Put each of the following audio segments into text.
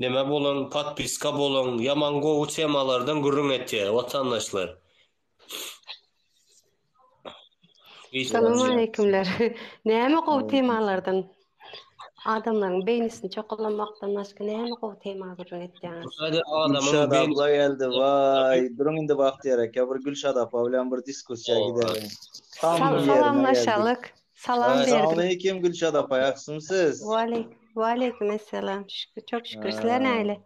Neme bolan podpiska boluň ýaman gowy temalardan gürrüň etýär watandaşlar. Salam aleýkimler. Näme gowy temalardan adamlaryň beýnisini çokalamakdan başga näme gowy tema gürrüň etýäňiz. Gülşat abla geldi waý duruň indi wagt ýerek ýa bir Gülşat apa bilen bir diskussiýa gideliň. Salamlaşalyk. Salam berdim. Salamaleýkim Gülşat apa, ýagşymy siz? Waleý, waleýkim essalam. Şükür, çok şükür. Sizler näle?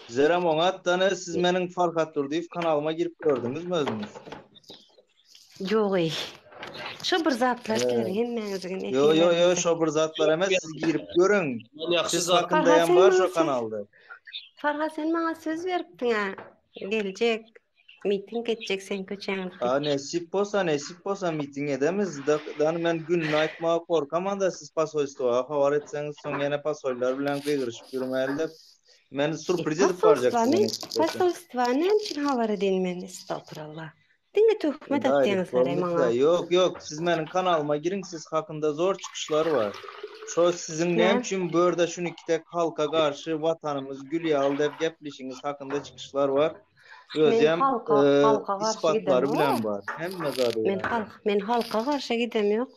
Bizerem oňatdan, siz meniň Farhat Durdyýew kanalyma girip gördüňizmi özüňiz? Ýogy. Şo bir zatlar sizler hemmäňiziň. Ýo ýo ýo şo bir zatlar emes, siz girip görüň. Siz hakynda hem bar şo kanalda. Farhat sen maňa söz beripdiň-ä, geljek. Miting etjek sen köçäňde. A nesip bolsa nesip bolsa miting edemiz da men gününi aýtmaga gorkamanda siz pasoýstwa habar etseňiz soň ýene pasoýlar bilen gygyryşyp ýürmäli dep men surpriz edip barjak size nesip bolsa. Pasoýstwa näme üçin habar edin men estagfirullah. Diňe töhmet atýaňyzlar maňa. Ýok ýok siz meniň kanalyma giriň siz hakynda zor çykyşlar bar. Şo siziň näme üçin bu ýerde şuny iki tek halka garşy watanymyz gül ýaly dep geplişiňiz hakynda çykyşlar bar. Özem halka garşy gidem bilen bar. Hemme zady bar. Men halk, men halka garşy gidem ýok.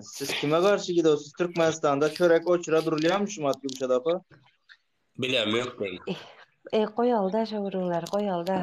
Siz kime garşy gidewsiz? Türkmenistanda çörek oçura durulýarmy şu wagt Gülşat apa? Bilem ýok men. E, goýalyda şo gürrüňleri, goýalyda.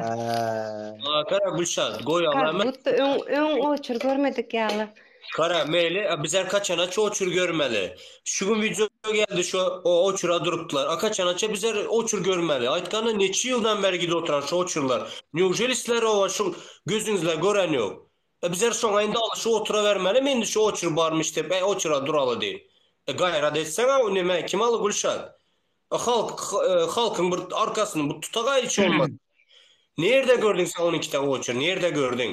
Ata Gülşat, goýaly. Gutda öň öň oçur görmedik ýaly. Gara meýli a biz erkaçana çoçur görmeli şu gün wideo geldi şu o oçura durupdylar a kaçanaça bizer oçur görmeli aýtganda neçe ýyldan beri gidip oturan şu oçurlar neujeli sizler oa şu gözüňizle gören ýok a bizer şoňa indi alyşyp oturabermelimi indi şu oçur barmyş dep a oçura duraly diýip a gaýrat etseň a neme kim aly gülşat a halk halkyň bir arkasyny bir tutagaý hiç bolmasa nirde gördüň sen on iki ta oçur nirde gördüň.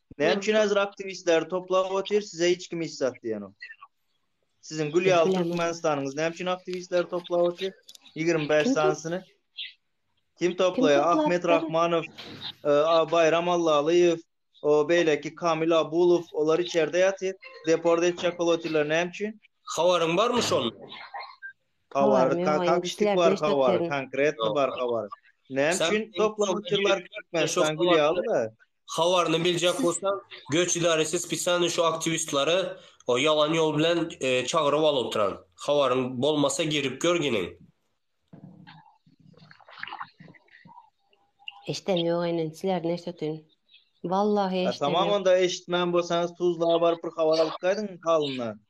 Näme üçin häzir aktiwistleri toplap otyr, size hiç kim hiç zat diýenok. Siziň gül ýaly Türkmenistanyňyz näme üçin aktiwistleri toplap otyr? 25 sanysyny kim toplaýar? Ahmet Rahmanow, e, Baýram Allalyýew, o beýleki Kamil Abulow, olar içerde ýatyr. Deport etjek bolup otyrlar näme üçin? Habaryň barmy şonuň? Habar, kakişlik bar habar, konkretno bar habar. Näme üçin toplap otyrlar Türkmenistan gül ýaly-da? Habaryny biljek bolsam göç idaresi spesialnyý şu aktiwistlary o ýalan ýol bilen çagyryp alyp otyran. Habaryň bolmasa girip gör giniň. Eşden ýok enen siler neşetin. Wallahy eşden ýok. Tamam onda eşitmän bolsaňyz tuzla baryp bir habar alyp gaýdyň halyndan.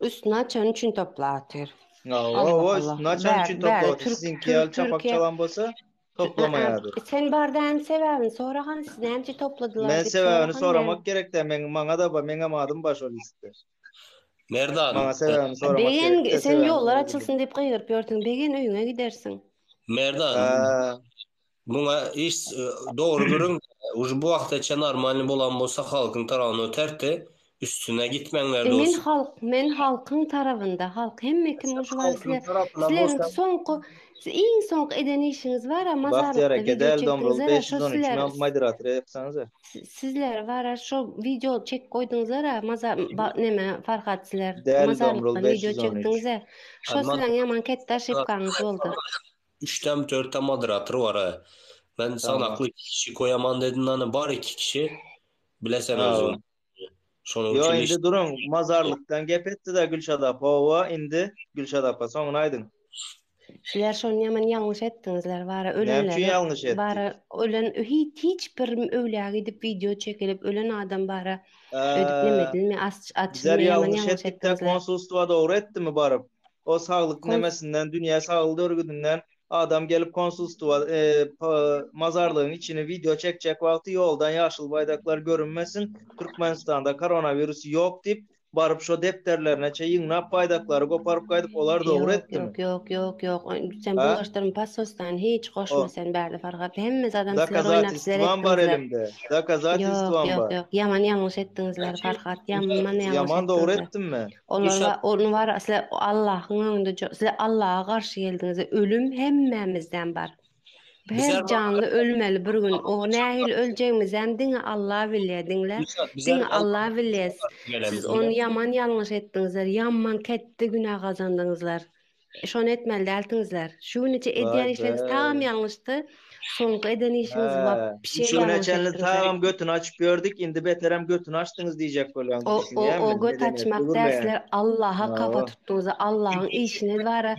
Üstüni açan üçin toplatyr. Hawa hawa üstüni açan üçin toplatyr. Siziňki ýaly çapak çalan bolsa toplamaýadyr. Sen bardaň sebäbini sora hany siz näme üçin topladylar diýip. Men sebäbini soramak gerek däl meň maňa da bar meňem adym bar şol listde. Merdan. Maňa sebäbini soramak gerek däl. Begen sen ýollar açylsyn diýip gygyryp ýörsüň begen öýüňe gidersiň. Merdan. Muňa iş dogry görüň, uje bu wagta çen normalny bolan bolsa halkyň tarawyna öterdi, üstüne gitmeňler dos. Men halk men halkyň tarabynda halk hemme kim uje bar sizler sizleriň soňky siz iň soňky eden işiňiz bara mazarlykda wideo çekdiňiz ara şo sizler sizler bara şo wideo çekip goýduňyzlar a maza ba neme farhat sizler mazarlykda wideo çekdiňiz a şo sizleriň ýaman ketdi aşypkaňyz boldy. Üçdem dörtdem moderator bar a. Men sanakly iki kişi goýaman dedim dany bar iki kişi. Bile sen özüň. Şonuň üçin. Ýo indi duruň mazarlykdan gep etdiz a Gülşat apa howa indi Gülşat apa soňuny aýdyň. Sizler şony ýaman ýalňyş etdiňizler bara ölenleri. Näme üçin ýalňyş etdik. Bara ölen hiç hiç bir öwlä gidip wideo çekilip ölen adam bara öýdüp neme edilmi açylmy ýaman ýalňyş etdiňizler. Bizler ýalňyş etdik da konsulstwa dogry etdimi baryp. O saglyk nemesinden, dünýä saglyk örgüdinden adam gelip konsulstwa, e, mazarlygyň içini wideo çekjek wagty ýoldan ýaşyl baýdaklar görünmesin, Türkmenistanda koronawirus ýok diýip, baryp şo depderlerine çe ýygnap baýdaklary goparyp gaýdyp olar dogry etdimi? Ýok, ýok, ýok, ýok, ýok. Sen bu ýaşlaryň pasosdan hiç goşma sen bärde Farhat. Hemme zadam sizler oýnap sizler etdiňizler. Dokazatistwam bar elimde. Dokazatistwam bar. Ýok, ýok, ýok. Ýaman ýalňyş etdiňizler Farhat. Ýaman ýalňyş etdiňizler. Ýaman dogry etdimmi? Olar Düşek. ony bar asly Allahyň öňünde jo- size Allaha garşy geldiňiz. Ölüm hemmämizden bar. Her Bizer bar. janly ölmeli bir gün. O nähili öljegimizem diňe Alla bilýär. Diňle. Düşek, bizer Diňe Alla Allaha bilýär. garşy gelemiz Siz bilen. ony ýaman ýalňyş etdiňizler. Ýaman ketde günä gazandyňyzlar. Şony etmeli dälsiňizler. Şu günüçe edýän işleriňiz tagam ýalňyşdy. Soňky eden işiňiz wapşe Şu güne çenli tagam götüni açyp ýördük, indi beterem götüni açdyňyz diýjek bolýan diýip düşünýän. O göt açmak däl, sizler Allaha kafa tutduňyz, Allahyň işine bara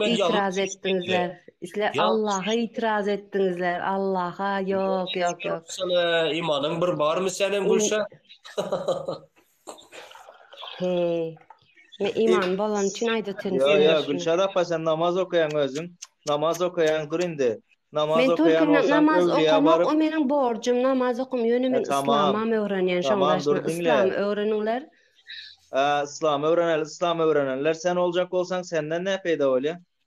itiraz etdiňizler. Sizler Allaha itiraz etdiňizler, Allaha ýok, ýok, ýok. Imanyň bir barmy seniň Gülşah? Heý. Men iman bolany üçin aýdatyn Ýo ýo Gülşat apa sen namaz okaýaň özüň. Namaz okaýaň dur indi. Namaz okaýan bolsaň öwlüýä baryp. O meniň borjum namaz okam ýöne men yslamam öwrenýän şoň daşyna yslam öwreniňler. Yslam öwreneli yslam öwrenenler sen boljak bolsaň senden ne peýda bolýa.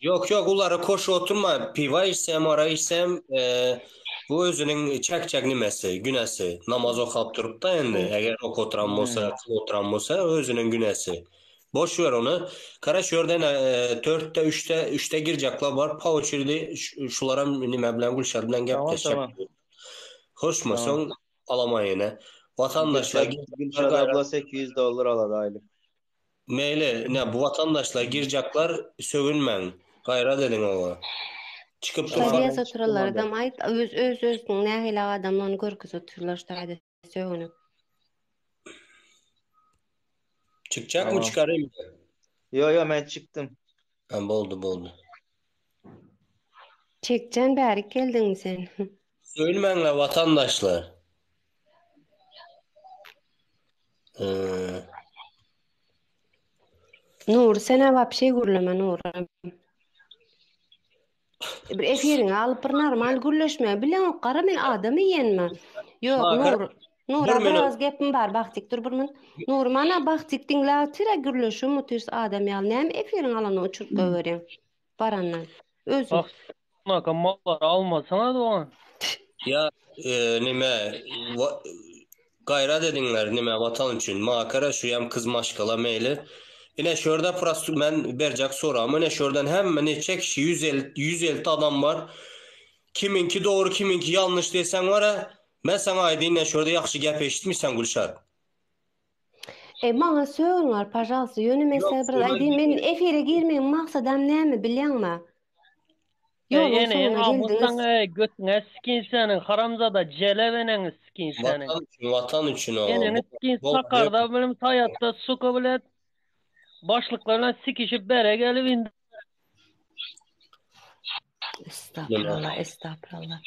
Ýok ýok ulara koşup oturma piwa içsem ara içsem bu özüniň çekjek nimesi günesi namaz okap turupda endi eger ok oturan bolsa kıl oturan bolsa özüniň günesi boş ýör ony kara şu ýerden törtde üçde üçde girjekler bar pa oçirdi şularam nime bilen gülşer bilen gepleşjek hoşma soň alamaýyny watandaşlar gülşer abla sekiz ýüz dollar alady aýlyk Meýli ine bu watandaşlar girjaklar sögünmäň gaýrat ediň oňa. Çykyp dursaň Şaýdýas hem çyk oturarlar durmazlar. adam aýt öz öz özüniň nähili adamlygyny görkezip otyrlar şaýda sögünip. Çykjakmy Tamam. çykarymmy. Ýo ýo men çykdym. Tamam boldy boldy. Çekjan bärik geldiňmi sen? Söýülmäňler watandaşlar. Nur sen awap şey gürleme Nur. Bir efiriňi alyp bir normal gürleşme. Bileňok gara men adam iýenmi? Ýok, Ha, Nur. Nur, Nura bir meni- az gepim bar. Bagtyk dur bir min. Nur, mana Bagtyk diňle otira gürleşiň mutis adam ýaly. Näme efiriň alany uçuryp goýberiň. Barandan. Özüm. Bak, Naka mallary almasaňyz oňa. Ýa, e, nime, wa- Gaýrat ediňler nime watan üçin makara şuýam kyz maşgala meýli ine şurda prost men berjek soragym ine şurdan hemme neçe kişi ýüz el ýüz elti adam bar kimiňki dogry kimiňki ýalnyş deseň wara men saňa aýdyn ine şurda ýagşy gep eşitmiseň Gülşat. E maňa sögün gal pažalsta ýöne men size bir aýdyn men efire girmegiň maksadam näme bilýaňma. Ýol Ey ene ýene awusaň ey götüňe sikin seniň haramzada jelep eneňi sikin seniň. Watan üçin watan üçin oňa. Eneňi sikin sakarda bilen saýatda suka bilen başlyklar bilen sikişip bere gelip indi. Estapyrallah estapyrallah.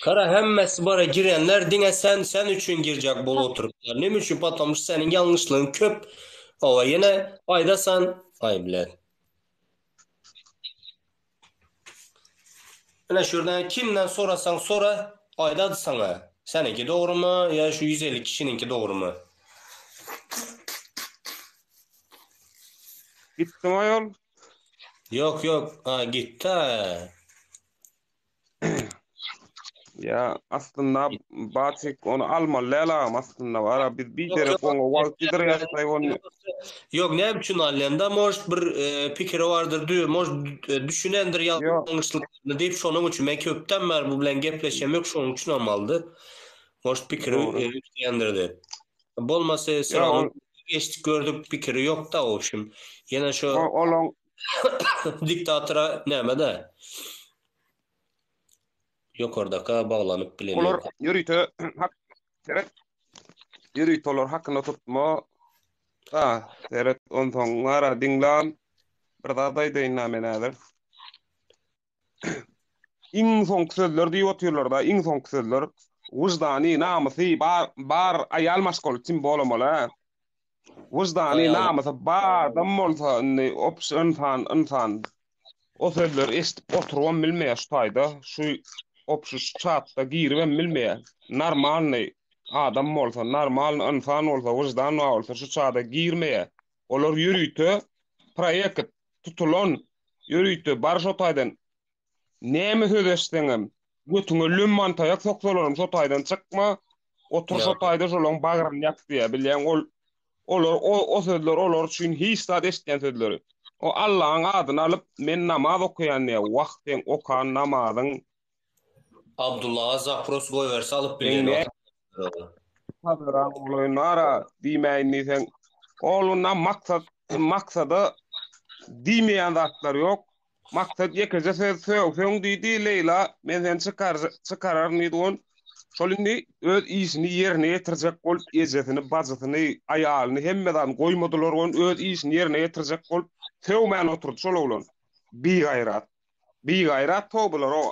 Kara hemmesi bara girenler diňe sen sen üçin girjek bolup oturyplar. Nime üçin patomşy seniň ýalňyşlygyň köp. Owa ýene aýdasan aý bilen. Ine şu ýerden kimden sorasaň sora, aýdady saňa. Seniňki dogrymy ýa şu ýüz elli kişiniňki dogrymy. Gitdimi aýol? Ýok ýok, a gitdi-ä. Ýa aslynda Batik ony almaly däl agam aslynda bara biz bir Ýok, derek ýok, oňa wagt ýidirýärkaý ony Ýok, näme üçin alýanda mož bir e, pikiri bardyr, dü- mož e, düşünendir Ýok. ýalňyşlyklaryny diýip şonuň üçin men köpden bäri bu bilen gepleşem ýok şonuň üçin hem aldy. Mož pikiri Dogry. e, üýtgändir diýip. Bolmasa Ýa, Siranyň ol- geçdik gördük pikiri ýok-da obşim. Ýene şu o- olaň Diktatora nämede? Ýokardaka baglanyp bilen Olar ýok. ýörite hak seret. Ýörite olar hakyna tutma. Da, seret onsoň ara diňlan. Bir zat aýdaýynda men häzir. iň soňky sözler diýip otyrlar-da, iň soňky sözler. Wyždany, namysy bar, bar aýal maşgaly kim bolamala? Wyždany, namysy bar adam bolsa, indi ops ynsan, ynsan. O sözleri eşidip oturybam bilmeýär şu taýda, şu ops şu çatda giribem bilmeýär. Normalny adam bolsa, normalny ynsan bolsa, wyždan bar bolsa şu çada girmeýär. Olar ýörite proýekt. tutulan ýörite bar şo taýdan näme söz eşitseňem götüňe lümman taýak soksalaram şo taýdan çykma otur şo taýda şolaň bagryny ýap diýýär bilýäň ol olar o, o sözler olar üçin hiç zat eşitýän sözleri o Allaň adyny alyp men namaz okaýan diýýär wah seň okan namazyň Abdullaga zapros goýberse alyp bilýän Eňe. wagtynda. Hazara oglaýyn bar-a, diýmäýin diýseň, ogluna maksat, maksada diýmeýän zatlar ýok. Maksat ýekeje söz sögseň diýdi, Leýla, men seni çykar, çykararyn diýdi gon. Şol indi öz işini ýerine ýetirjek bolup, ejesini, bajysyny, aýalyny, hemme zadyny goýmadylar gon, öz işini ýerine ýetirjek bolup, sögmän oturdy şol oglan. Bigaýrat. Bigaýrat to bular o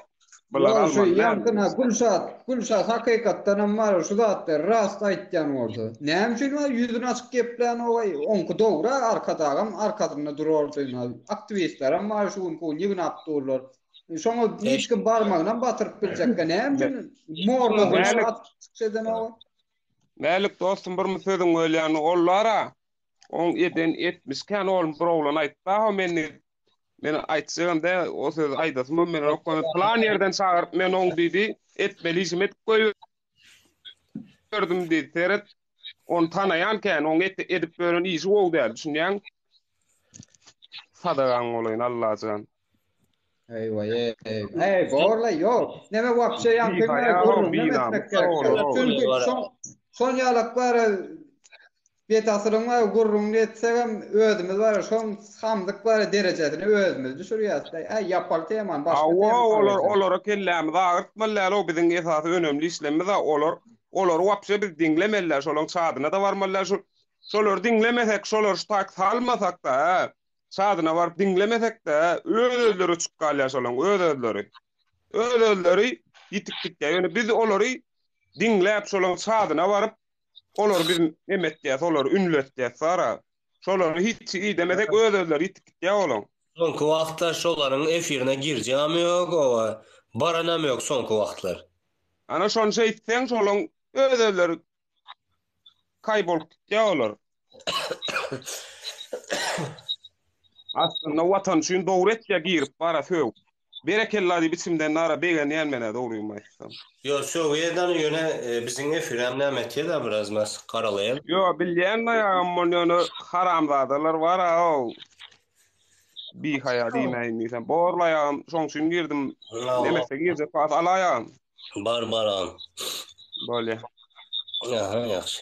bular Ýa şu almaly däl. ýaňky na Gülşat Gülşat hakykatdan hem bar şu zatlary rast aýtýan bolsa näme üçin a ýüzüni açyk geplänogaý oňky dogry a arkadagam arkasynda durardy na aktiwistlerem bar şu günki ýygyn abdurlar şoňa niçik barmagynam batyryp biljekkä näme üçin morla Nälik- gylyç atyp çykyş edenogaý. Mälik dostum birmi sözüň bölýän ollara oň eden etmiş kän oglum bir oglan aýtdaho men Men aýtjagam dä, o sözi aýdasym hem meniň ýok. Plan ýerden çagyryp, men oň diýdi, etmeli işimi edip goýberdim diýdi. Seret, ony tanaýan kän, oň edip ýören işi gowy däl, düşünýäňmi? Sadagaň bolaýyn, Allajan. Eý-weý-eý. Eý, bor-la, ýok. Neme wapşe ýaňky günler gürrüňem etmek gerek däl. Çünki şoň ýalak bar-a. Bet asyryň bar gürrüňini etsegem özümiz bar şoň samsyk bar derejesine özümiz düşürýäs da äý ýapar temany başga tema Hawa olar alyberjek. olara kellämizi agyrtmaly däloo biziň esasy önemli işlemimiz a olar olary wapşe biz diňlemeli şolaň çadyna da barmaly däl şul şolary diňlemesek şolar ştak salmasak da a çadyna baryp diňlemesek de öz özleri uçup galýar şolaň öz özleri öz özleri ýitip gitýär ýöne biz olary diňläp şolaň çadyna baryp Olary biz neme etýäs, olary ünletýäs, sara. Şolary hiç idemesek öz-özleri ýitip gitýär olaň. Soňky wagtlar şolaryň efirine girjegem ýok, oba, baranam ýok soňky wagtlar. Ana şony şeýtseň şolaň öz-özleri kaý bolup gitýär olar. Aslynda watan üçin dogry etýär girip bara sögüp. Berekella diýip içimden nara begenýän menä dogrymy aýtsam. Ýo sögü edany ýöne biziň efiräm näme etýeda biraz mas garalaýan. Ýo bilýän daýagam ol ýöne haramzadalar bar a ol bihaýa diýmäýin diýsem borlaýagam şoň üçin girdim nemesde girjek bas alaýagam. Bar bar agam. Bolýa. Aha ýagşy.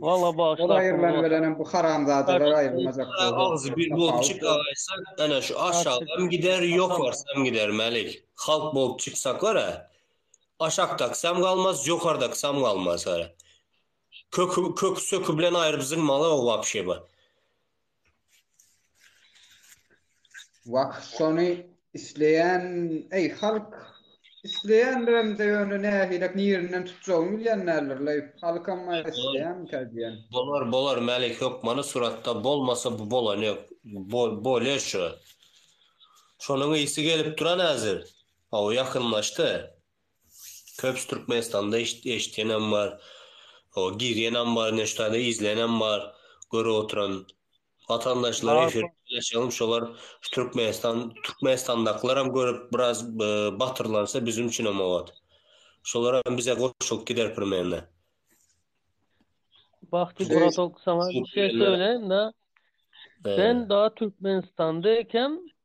Walla bagşy Ol aýrylan bilenem bu haramzadalar aýrylmajak bu Agzy bir bolup çykaýsa ana şu aşagam gider ýokarsam gider Mälik halk bolup çyksak görä aşakdakysam galmaz ýokardakysam galmaz görä köki köki söki bilen aýryp zynmaly o wapşe bu Wah şony isleýän eý halk isleýändiremde ýöne nähilek nirinden tutjagyny bilýän däldir leý halkam maý isleýänmikä diýen. Bolar bolar Mälik hökmany suratda bolmasa bu bolany ýok bolýa şu şonuň ysy gelip duran häzir hawa ýakynlaşdy Köpüsi Türkmenistanda eşidenem bar. Hoo girýenem bar neştade izleýenem bar görüp oturan watandaşlar efirde paylaşalym şolar şu Türkmenistan Türkmenistandakylaram görüp biraz batyrlansa bizim üçinem obat. Şolaram bize goşulyp gider primerne. Bahti buratok saňa bir şey söyleyin da. Ben da Türkmenistanda ekem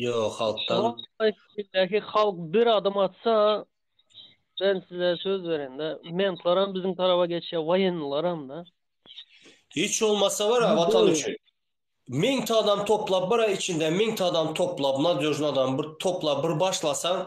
Ýok, halkdan. Şeýdäki halk bir adam atsa, men size söz berende, mentlaram biziň taraba geçýär, waýennilaram-da. Hiç bolmasa bara watan üçin. Meňte adam toplap bara içinde meňte adam toplap nadýožny adam bir toplap bir başlasaň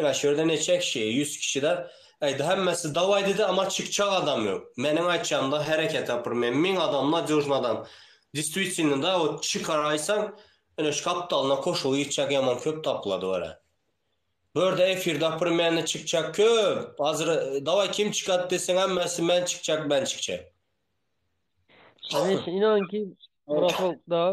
Ine şu ýerde neçe kişi, ýüz kişide, aýdy hemmesi dawaý diýdi, emma çykjak adam ýok. Meniň aýtjagymda hereket ýok, bir men müň adam nadýožny adam. Distwitsinno da ot çykaraýsaň, ine şu gapdalyna koşuly gitjek ýaman köp tapylady wara. Bu ýerde efirde bir meni çykjak köp, hazir dawaý kim çykat deseň hemmesi men çykjak, men çykjak. Hany şu inan ki, Brafolkda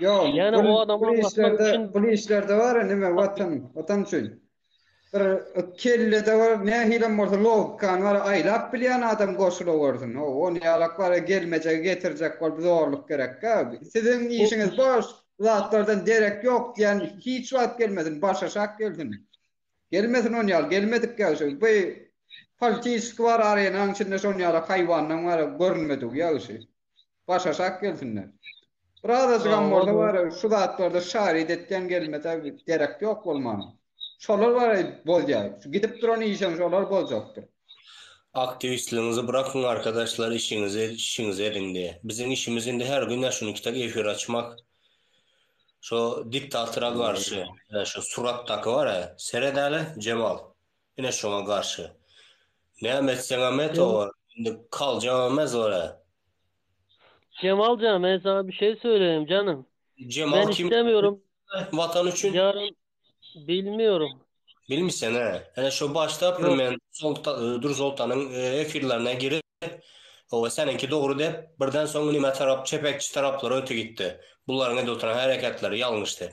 Ýok, Ýöne o adamy aňlatmak üçin pul işlerde bar ya nime watan, watan üçin. Bir kellede bar, nähilem bolsa logikany bar, aýlap bilýän adam goşula görsün. O, o ne alak bar, gelmejegi getirjek bolup zorluk gerekkä. Siziň işiňiz boş, zatlardan derek ýok diýen hiç wagt gelmesin, başaşak gelsin. Gelmesin on ýaly, gelmedik ýagşy. Bu politiski bar arenaň içinde şon ýaly haýwanlaň bar görünmedik ýagşy. Baş aşak gelsinler. Birazajygam bolsa bar, şu zatlarda şaryt etgen gelmese gerek ýok bolmana. Şolar bar, bolýar. Gidip duran işem şolar boljakdyr. Aktiwistligiňizi brakyň arkadaşlar işiňizi işiňizi ediň de. Biziň işimiz indi her gün ya şunuki tak efir açmak. Şo diktatora garşy şu suratdaky bara seredeli Jemal. Ine şoňa garşy. Näme etseňem et Jem obar. Indi kal jamez bar-a. Jemal jan men saňa bir şey söyleýin janym. Jemal Men kim islemirem. Watan üçin? Ýarym bilmiyorum. Bilmiseň-ä. Ine şo başda bir Ýok. men Solta Dursoltanyň efirlerine girip oba seniňki dogry dep birden soň nime tarap çepekçi taraplara öti gitdi. Bularyň edip oturan hereketleri ýalňyş dep.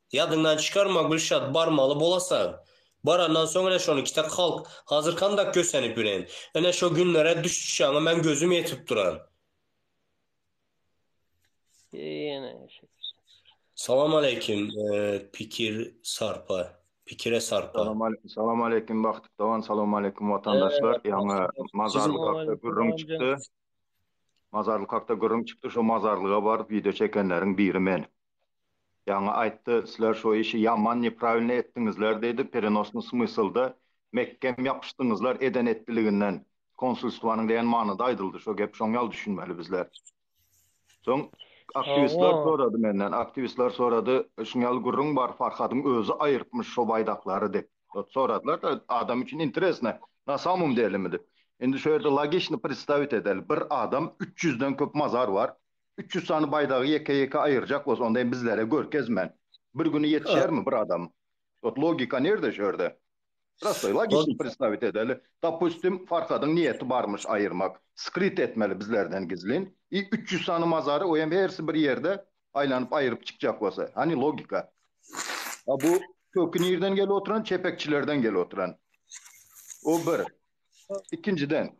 Ýadyňdan çykarma Gülşat barmaly bolasan. Barandan soň ine şony kitek halk hazir kandak kösenip bilen. Ine şo günlere düş düşaňa men gözüm ýetip duran. Ýene eşek. Salam aleýkim pikir sarpa pikire sarpa. Salam aleýkim Bahtyp dogan Salam aleýkim watandaşlar ýaňy mazarlyk hakda gürrüň çykdy. Mazarlyk hakda gürrüň çykdy şo mazarlyga baryp wideo çekenleriň biri men. Ýaňy aýtdy, sizler şo işi ýaman nepravilno etdiňizler diýdi, perenosnyý smyslda, mekgem ýapyşdyňyzlar eden etdiliginden, konsulstwanyň diýen manyda aýdyldy şo gep, şoň ýaly düşünmeli bizler. Soň aktiwistler sorady menden, aktiwistler sorady, şuň ýaly gürrüň bar, Farhadyň özi aýyrtmyş şo baýdaklary diýip, ot soradylar-da, adam üçin interesno, na samom delemi diýip. Indi şo ýerde logiçno predstawit edeli, bir adam üç ýüzden köp mazar bar, Üç ýüz sany baýdagy ýeke-ýeke aýyrjak bolsa, onda hem bizlere görkezmän, bir güni ýetişermi bir adam? Ot logika nirde şu ýerde? Prostoý logiçni predstawit edeli. Dopustim, Farhadyň niýeti barmyş aýyrmak, skryt etmeli bizlerden gizlin. I üç ýüz sany mazary, o hem hersi bir ýerde aýlanyp aýryp çykjak bolsa. Hany logika? A bu köki nirden gelip oturan? Çepekçilerden gelip oturan. O bir. Ikinjiden,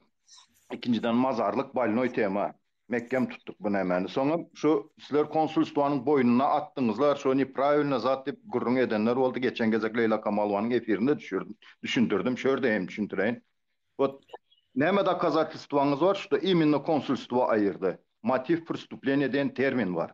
ikinjiden mazarlyk bolnoý tema. Mekgem tutduk bu nämäni soňam şu sizler konsulstwanyň boýnuna atdyňyzlar şo nepravilno zat diýip gürrüň edenler boldy geçen gezek Leýla Kamalowanyň efirinde düşürdim düşündirdim şu ýerde hem düşündireýin ot näme dokazatelstwaňyz bar şuda iminno konsulstwa aýyrdy motiv prwstupleniýa diýen termin bar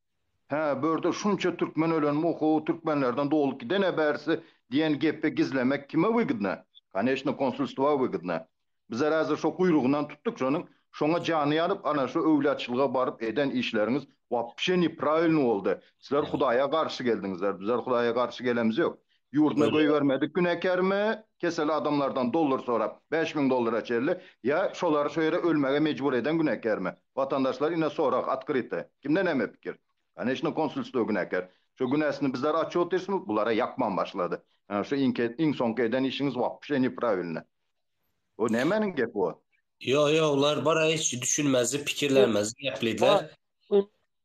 Hä, bu ýerde şunça türkmen ölenmi, oho, türkmenlerden dolup giden-ä bärsi diýen gepi gizlemek kime wygdna? Koneçno, konsulstwa wygdna. Bizler häzir şo guýrugyndan tutdyk şonuň, şoňa jany ýanyp, ana şo öwlýaçylyga baryp eden işleriňiz wapşe nipravilny boldy. Sizler Hudaýa garşy geldiňizler, bizler Hudaýa garşy gelemizok. Ýurduna goýbermedik günekermi kesel adamlardan dollar sorap bäş müň dollara çenli ýa şolary şu ýere ölmege mejbur eden günekermi watandaşlar ine sorag otkryty kimde näme pikir koneçno konsulstwo güneker şu günesini bizler açýot dirsmi bulara ýakman başlady ýa şu iňki iň soňky eden işiňiz wapşe nepravilne bu nämäniň gepi bu. Ýok ýok bular bir hiç düşünmezlik pikirlenmezlik gepleýdiler.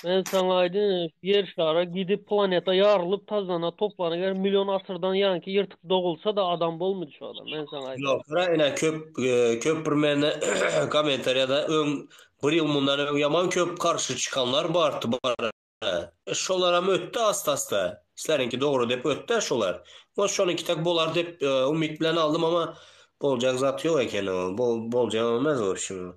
Men saňa aýdyn, ýer şara gidip planeta ýarylyp tazana toplana ger million asyrdan ýanki ýyrtyk dogulsa da adam bolmady şu adam men saňa aýdyn. Ýok gara ine köp köp bir mende komentariýada öň bir ýyl mundan öň ýaman köp garşy çykanlar bar tubara. Şolaram ötdi asta asta. Sizleriňki dogry dep ötdi şolar. Ot şonuňki tak bolar dep umyt bilen aldym ama boljak zat ýok ekeni ol boljak emes wobşem.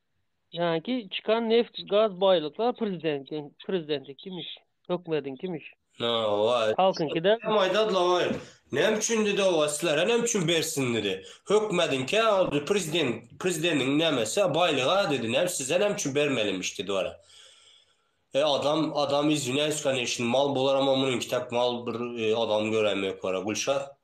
Yani ki çykan neft gaz baýlyklar prezidentiň prezidentiňkimiş, hökümetiňkimiş. Na owaý. Halkyňky däl. Hem aýdady lawaýyk. Näme üçin dedi owaý sizlere näme üçin bersin dedi. Hökümetiňkä ol prezident prezidentiň nämesi baýlyga dedi näme size näme üçin bermelimiş dedi wala. E adam adam izwinýaýs koneçni mal bularam a munyňky tak mal bir adam göräýmek wala Gülşah.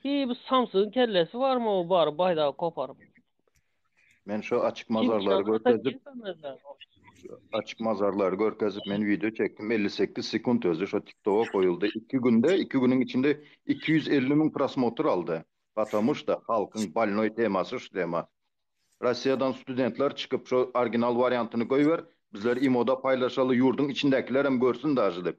Hi bu samsygyň kellesi barmy o bar baýdagy koparyp. Men şu açyk mazarlary görkezip açyk mazarlary görkezip men video çekdim 58 sekund özü şu TikToka goýuldy. 2 günde 2 günüň içinde 250 müň prosmotr aldy. Patamu şda halkyň balnoý temasy şu tema. Rossiýadan studentler çykyp şu orginal wariantyny goýber bizler imoda paýlaşaly ýurdyň içindäkilerem görsün dažy dip.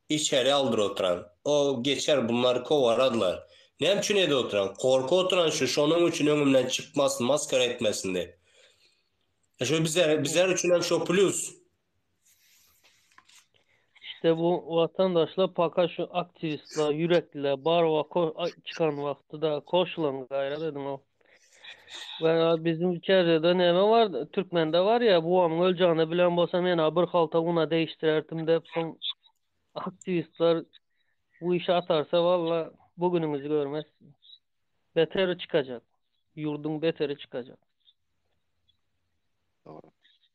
Içeri aldyr otyran. O, geçer, bunlar kowaradlar. Näme üçin ede otyran? Korkup otyran şu, şonuň üçin öňümden çykmasyn, masgara etmesin diýip. Şu bize, bizler üçin hem şo plýus. Şte bu watandaşlar paka şu aktiwistler, ýürekliler, barwa ko, a, çykan wagty da koşulan gaýrat ediň o. Gara biziň içeride näme bar? Türkmende bar ya bu amyň ölçegini bilen bolsa men bir halta una değiştirerdim dep soň aktivistler bu işi atarsa valla bu günüňizi görmez. Beteri çıkacak. Yurdun beteri çıkacak. Doğru.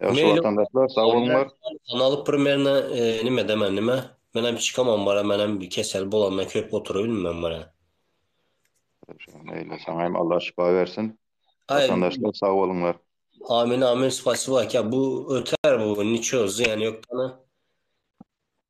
Ýagşy watandaşlar sag bolňlar. Kanaly primerna nime deme nime. Men hem çykamam bara men hem kesel bolanda köp oturybilmem bara. Şeýle saňa hem Allah şypa bersin. Watandaşlar sag bolňlar. Amin amin spasiba aka bu öter bu niço zyýany ýok dana.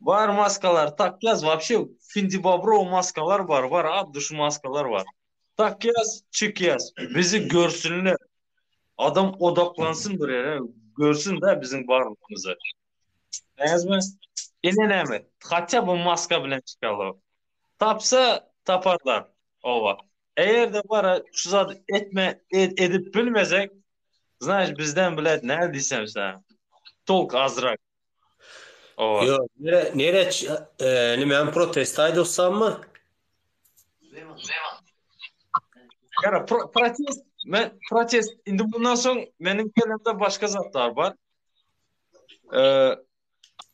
Bar maskalar tak ýaz wapşe findi bobro maskalar bar bar abdy şu maskalar bar tak ýaz çik ýaz bizi görsünler adam odaklansyn bir ýere görsün da biziň barlygymyzy näzmi ine näme hatýa bu maska bilen çykaly tapsa taparlar oba eger-de bar şu zat etme edip bilmesek znaýyş bizden bilet nädiýsem sana tolk azrak Ýok, nere, nere, e, nime hem protest aýdy ussammy? Ýara, protest, men protest, indi bundan soň meniň kelemde başga zatlar bar. E,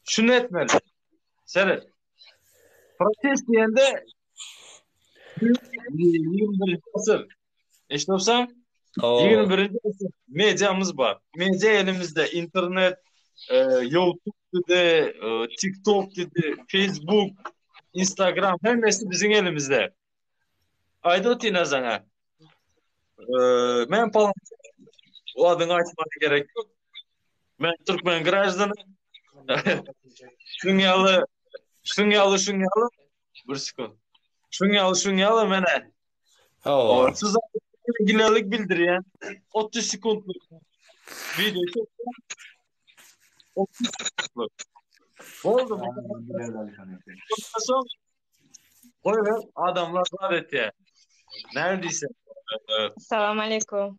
şunu etmeli. Seret. Protest diýende 21-nji asyr Eşit olsan, 21-nji asyr mediamyz bar. Media elimizde internet, e, YouTube de, e, TikTok de, Facebook, Instagram hemmesi biziň elimizde. Aýdyp otyna sana. E, men falan o adyny aýtmak gerek ýok. Men türkmen graždany. Şuň ýaly, şuň ýaly, şuň ýaly. Bir sekund. Şuň ýaly, şuň ýaly menä Hawa. Siz ginalik bildirýär. 30 sekundlyk video çekýär. 30 sekundlyk. Boldy. Goý we adamlar zat etýär. Näme diýse. Salam aleykum.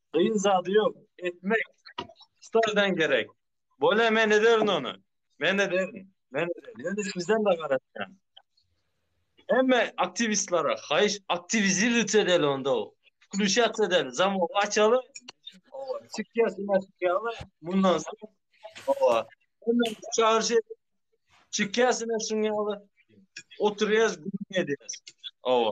Gyn zady yok etmek stadan gerek bole men ederin onu men ederin men ederin ýöne sizden de garaşýan emme aktiwistlere haýyş aktiwiziruýt edeli onda wkluşat edeli zamogy açaly owa çykýasy maşykýaly mundan soň owa emme çagyryş edip çykýasy maşykýaly oturýas gürrüň edýäs owa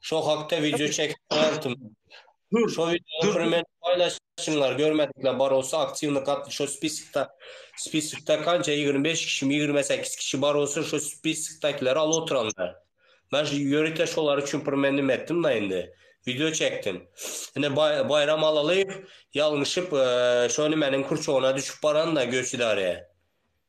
Şo hakda wideo çekip goýartym. Şo wideony premýer paýlaşyňlar, görmedikler bar bolsa aktiwny gatn şo spiskda spiskda kança ýigrimi bäş kişimi ýigrimi sekiz kişi bar bolsa şo spiskdakileri alyp otyranlar. Men ýörite şolar üçin premýer nime etdim da indi. Wideo çekdim. Ine Baýram Alalyýew ýalňyşyp şo nimäniň kurçogyna düşüp baran da göç idarä.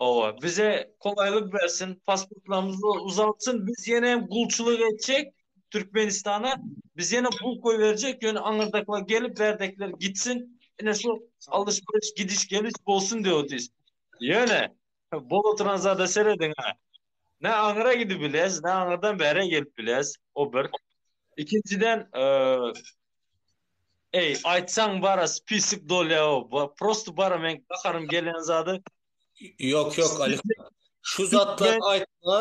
Owa, bize kolaýlyk bersin, pasportlarymyzy uzaltsyn, biz ýene hem gulçulyk etjek Türkmenistana, biz ýene pul goýberjek, ýöne aňyrdaklar gelip, bärdekiler gitsin, ine şu alyş-beriş, gidiş-geliş bolsun diýip otyrys. Ýöne, bolup oturan zada serediň-ä. Ne aňyra gidip bileris, ne aňyrdan bäre gelip bileris, o bir. Ikinjiden, Eý, aýtsaň bara spisik dolýaow, prosto bara meň gaharym gelýän zady. Ýok, ýok, Alisa. Şu zatlary aýtma,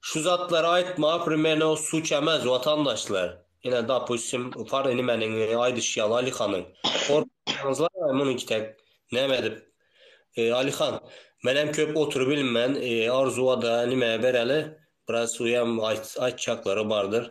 şu zatlary aýtma, primenow suçamez, watandaşlar. Ine, dopustim, par inimeniň aýdyşy ýaly Alisanyň. Gorkmaýaňyzlaý, muny tek näme edip. Alisan, menem köp oturybilmen, Arzuwada nimäge bereli, biraz uýam aýt, aýtjaklary bardyr.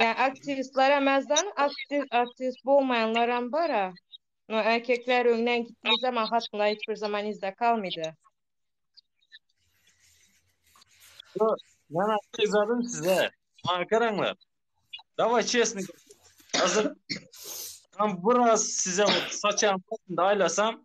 Ýa artistler emezden artist artist bolmaýanlar hem bar a. No erkekler öňden gitdiği zaman hatynlar hiç bir zaman izde kalmaýdy. Yo, Ben aýtdy yazadym size. Maňa garaňlar. Daway çesni. Hazır. Tam biraz size saçan aýlasam,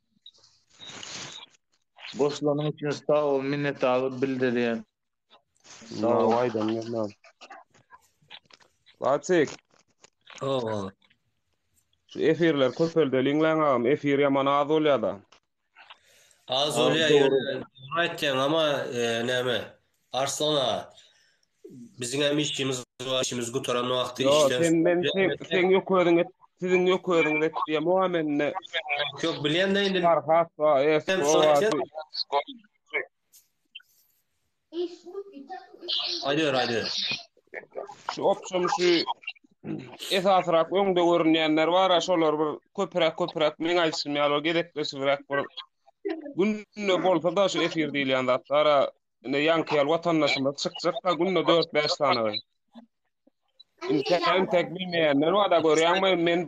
Goşulanyň üçin sag bol, minnetdarlyk bildirýän. Sag bol. Laçyk. Howwa. Şu efirler köpeldeliň lan agam, efir ýaman az bolýada. Az bolýa ýöne dogry aýtýaň ama näme Arslan aga Biziň hem işimiz bar, işimiz gutaran wagty Yo, işden... sen, men, sen, sen yok özün et, sizin yok özün et diye muha menne. Yok, bilen de indi... Farhat va, es, o va, di. Aydır, aydır. Şu opsum şu esasrak öňde görünýänler bar, ha, şolar bir köpürak köpürak men aýtsym ýaly gezekleşibrak bir günde bolsa da şu efir diýilýän zatlar Indi ýaňkyýal watandaşymyz çykjakda günde dört-bäş sany. Indi tek bilmeýänler bar-da görýäňmi, men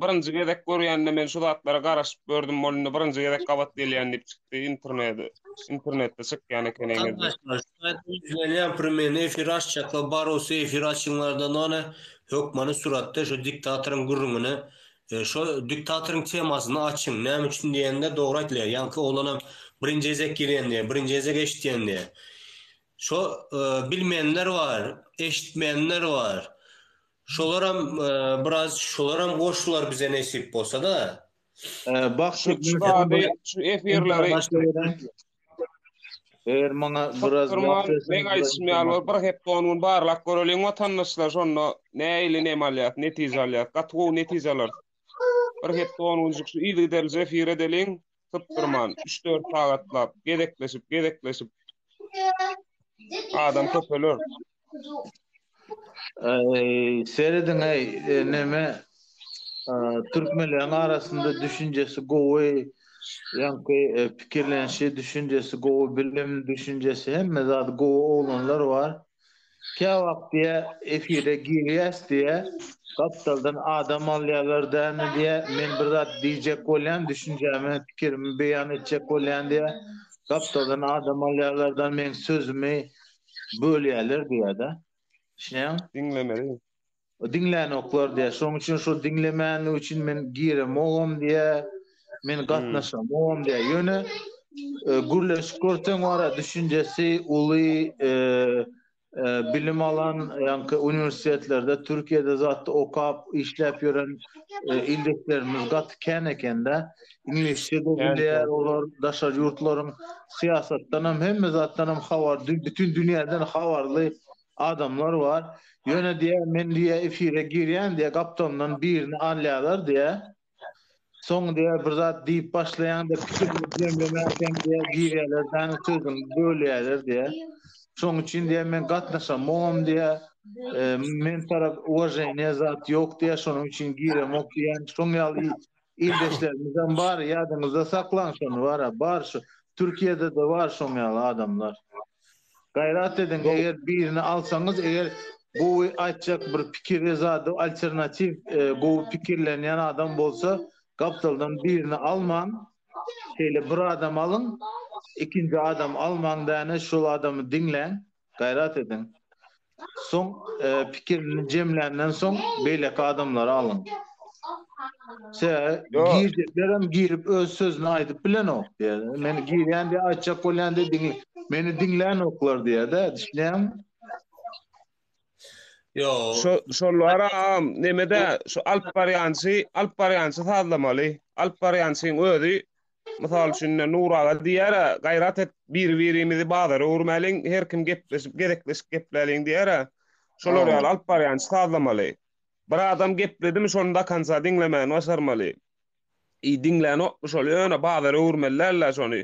birinji gezek görýände men şu zatlara garaşyp gördüm, ol indi birinji gezek gabat gelýän diýip çykdy internete. Internetde çykýan eken eýýäm. Gatnaşyjylar, şaýat duýup gelýän premýerni efire açjaklar, bar bolsa efire açyňlar-da, nane, hökmany suratda şu diktatoryň gürrüňini Şo diktatoryň temasyny açyň. Näme üçin diýende dogry aýtylýar. Ýaňky oglanam birinji gezek girendi, birinji gezek eşitýendi. Şo bilmeýänler bar, eşitmeýänler bar. Şolaram biraz şolaram goşular bize nesip bolsada. Şu efirleri Eger maňa biraz Çykdyrmaň, meň aýdyşym ýaly bolup, bir hepde-on gün barlap göreliň watandaşlar, şonda nähili neme alýas, netije alýas. Gaty gowy netije alarsyň. Bir hepde-on günjük şu yzygiderlije efir edeliň, sypdyrman, üç-dört sagatlap, gezekleşip, gezekleşip. Adam köpeler. Eý, serediň-eý, neme, türkmenleriň arasynda düşünjesi gowy, ýaňky pikirlenişi, düşünjesi gowy, bilim, düşünjesi, hemme zady gowy oglanlar bar. Käwagt diýe, efire girýäs diýe, gapdaldan adam alýarlar dämi diýe, men bir zat diýjek bolýan, düşünjämi, pikirimi beýan etjek bolýan diýe, gapdaldan adam alýarlar da, meň sözümi, bölýärler diýýärde. Düşünýäňmi? Diňlemeli. Diňlänoklar diýýär. Şonuň üçin şol diňlemänlik üçin men giremogam diýýär. Men gatnaşamogam diýýär. Ýöne e, gürleşip görseň wara düşünjesi uly e, e, bilim alan ýaňky uniwersitetlerde Türkiýede zatda okap işläp ýören e, ildeşlerimiz gaty kän ekende. Iňlisçe de bilýär olar, daşary ýurtlaryň syýasatdanam, hemme zatdanam habar, bütin dünýäden habarly adamlar bar. Ýöne diýýär, men diýýär, efire girýän diýýär, gapdalymdan birini alýarlar diýýär. Soň diýýär, bir zat diýip başlaýaňda pikirimi jemlemänkäm diýýär, girýärler däniň sözüňi bölýärler diýýär. Şonuň üçin diýýär, men gatnaşamogam diýýär. Men tarap uwaženiýa zat ýok diýýär, şonuň üçin giremok diýýär. Şoň ýaly Ildeşlerimizem bar, ýadyňyzda saklaň şony bara, bar şu Türkiýede-de bar şoň ýaly adamlar. Gaýrat ediň, eger birini alsaňyz, eger gowy aýtjak bir pikiri, zady, alternatiw, gowy pikirlenýän adam bolsa, gapdaldan birini almaň, şeýle bir adam alyň, ikinji adam almaň däne, şol adamy diňläň. Gaýrat ediň. Soň pikirini jemländen soň beýleki adamlary alyň. Sebäbi girjeklerem girip öz sözüni aýdyp bilenok diýýär. Meni girýän diýip aýtjak bolýan diýip meni diňlänoklar diýýär-de, düşünýäňmi? Ýok. Şolar agam nemede şu alyp barýançy, alyp barýançy sazlamaly. Alyp barýançyň özi Mysal üçin, ine, Nur aga diýýär-ä, Gaýrat et, biri-birimizi bazara öwürmäliň, her kim gepleşip, gezekleşip gepläliň diýýär-ä. Şolar ýaly alyp barýançy sazlamaly. Bir adam gepledimi, şony dokonca diňlemäni başarmaly. I diňlänokmy şol, ýöne bazara öwürmeli däl-ä şony.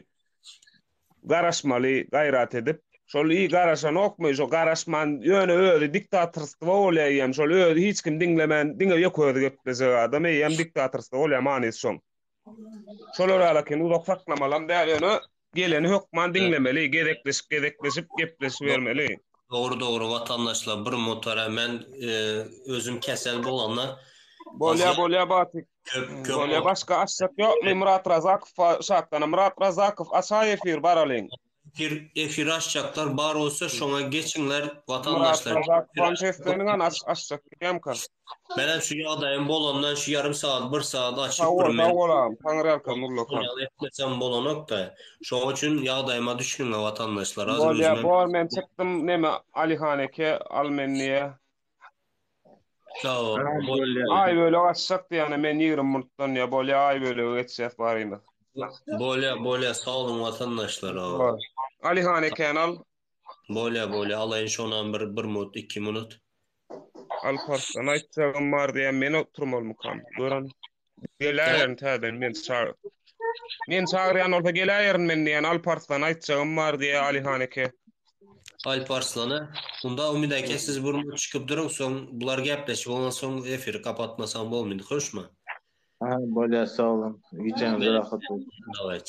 Garaşmaly, gaýrat edip. Şol i garaşanokmy, şo garaşman, ýöne özi diktatorstwo bolýar eýýäm, şol özi hiç kimi diňlemän, diňe ýeke özi gepleşjek adam eýýäm diktatorstwo bolýar, manysy şoň. Şolar ýaly ekeni, uzak saklamalam däl, ýöne geleni hökman diňlemeli, gezekleşip, gezekleşip gepleşibermeli. Dogry, dogry, watandaşlar, bir mutara men özüm kesel bolanda. Bolýa, bolýa Batyk. Bolýa, başga açjak ýokmy Myrat Razakowa şatdana, Myrat Razakow açaý efir baralyň. Efir, efir açjaklar bar bolsa şoňa geçiňler watandaşlar. Myrat Razakowa sesleniň, aç, açjak diýýämka. Menem şu ýagdaýym bolandan şu ýarym sagat, bir sagat açyp bir men. Sag bol agam, Taňry arkan gul okan. Etmesem bolanokda. Şoň üçin ýagdaýyma düşüniňä watandaşlar. Hazir özüm. Bolýa bor men çykdym neme Alihan eke al men diýe. Sag bol. Aý bölek açjak diýýän men ýigrimi minutdan diýýä bolýa aý bölege geçýäs barymyz. Bolýa bolýa sag boluň watandaşlar. Alihan ekeni al. Bolýa bolýa alaýyn şonam bir bir minut iki minut. Alparslan aýtjagym bar diýýän men oturmalmykam gören. Geläýerin täzeden men çag. Men çagyrýan bolsa geläýerin men diýýän Alparslan aýtjagym bar diýýä Alyhan eke. Alparslana unda Umyt eke siz bir minut çykyp duruň soň bular gepleşip ondan soň efiri kapatmasaň bolmyny hoşmy? Ha bolýa sag boluň gijäňiz rahat bolsun. Dawayt.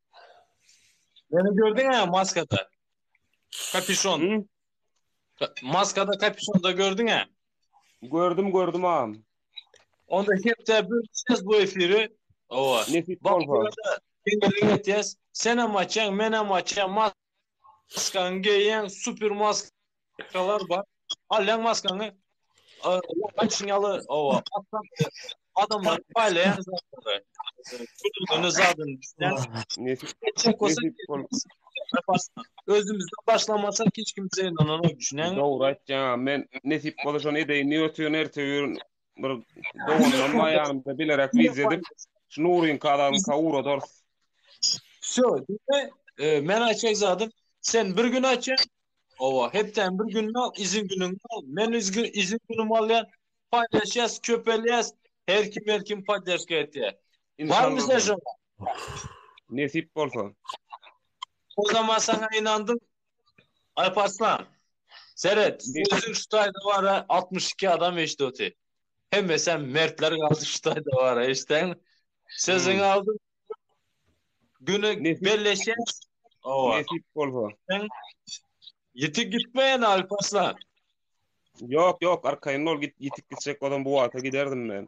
Beni gördün ha maskada. Kapüşon. Maskada kapüşonda gördün ha. Gördüm gördüm ağam. Onda hepde bir ses bu efiri. Ova. Nesip olsa. Sen hem açaň, men hem açaň. Maskan geýen super maskalar bar. Alýan maskany Açyň ýaly owa. Adamlar paýlaýan zatlary. Kötüne zadyn düşýän. Özümizden başlamasak hiç kim bize ynananok düşünýäňmi? Dogry aýtýaň. Men nesip bolsa şony edeýin. Ýöne sen erte ýörün. bir dogandan baýanymda bilerek wideo edip, şu Nuryň kadagyny kawuradarys. Şu, e, men aýtjak zadym, sen bir gün aýtja, owa, hepden bir gün al, izin günüň al, men izin izin günüm alýan, paýlaşýas, köpelýäs, her kim her kim poddeşka etýär. Barmy sen şoňa? Nesip bolsa. O zaman sana inandım. Alparslan. Seret, özün şu taýda bara 62 adam eşdi oty. Hemme sen mertler galdy şu taýda bara eşden. Sözün hmm. aldı. Güne belleşen. Owa. Nesip bolsa. Yitik gitmeyen Alparslan. Yok yok arkayın ol git yitik gitsek odan bu wagta giderdim ben.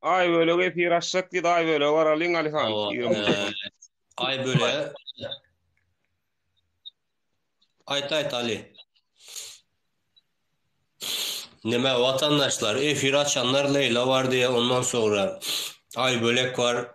Aý bölegi efir açjak diýdi, aý bölegi bar alyň Alihan. Hawa, Ýigrimi eee, telefon. Aý bölegi. Aýt aýt Ali. Neme watandaşlar efir açanlar Leýla bar diýe ondan soňra Aý bölek bar.